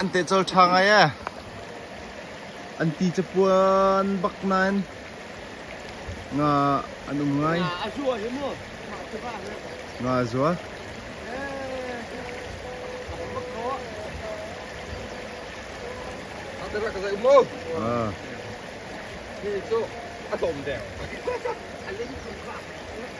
An te cawl ṭha ngai ee. An ti capuan bak nain nga an um ngai. Nga a zual. Ah.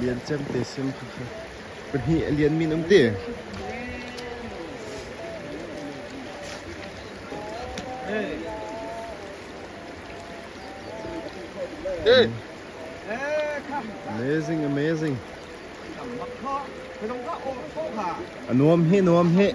Lian Cem te sim tu kha pahnih a lian min um ti. Amazing, amazing. A nuam he, nuam he.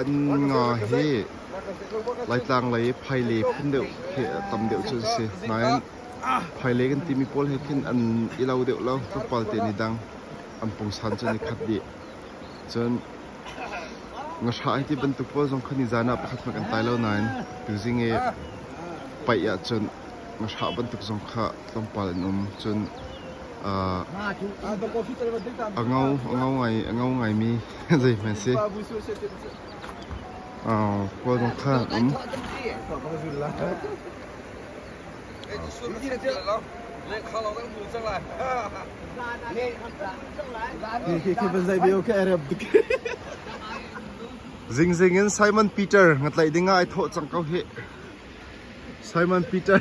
An nga hi Laitlang lei phaile phun deuh khi a tam deuh cu an si. Nain phaile kan timi pawl he khin an i lo deuh lo. Tlawmpal te ni dang an pungsan cu an i khat dih. Cun ngahra an ti bantuk pawl zong khan ni zaan ah pakhat hmanh kan tai lo nain tuzing i paih ahcun ngahra bantuk zong kha tlawmpal an um cun a ngo a ngo ngaimi zeihmanh si kawlung kha an um Zingzing in Simon Peter ngatlaih ding ah ai thawh cang ko hih. Simon Peter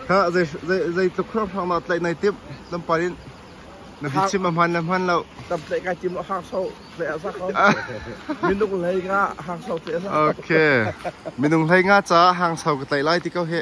kha zei zei zeitluk hramhram ah tlaih nai timh lampar in na bi chim a hman na hman lo tam tlaih kai tim hang so tle a sa ko minung lei nga hang so tle a sa okay minung hlei nga ca hang so ka tlaih lai ti ko he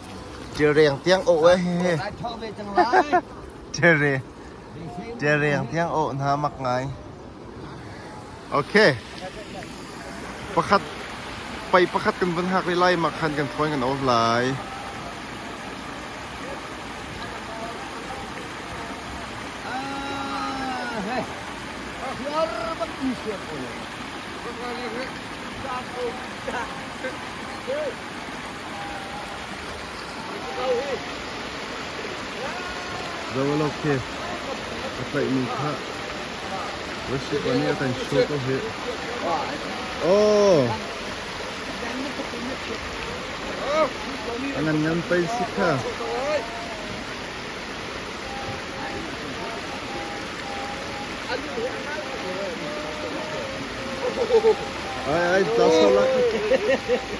Ṭilreng tiang awh hna mak ngai. Okay. Pakhat, pai pakhat kan van hak ve lai, mak khan kan thawn kan off lai. Ah, hey. Zoalo khi a tlaihmi kha Russia pa nih a kan show ko hi. Oh! A ngan ngan pei si kha. Ai ai, Zoso laki.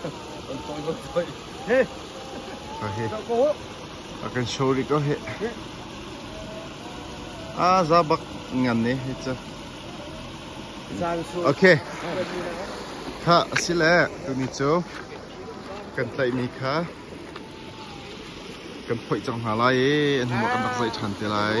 kan kawi kan kawi he ka he a kan show ri ko he ah za bak ngan ne he cha okay kha asile tuni cu kan tlaihmi kha kan phoih cang hna lai i hnuah kan rak zaih ṭhan te lai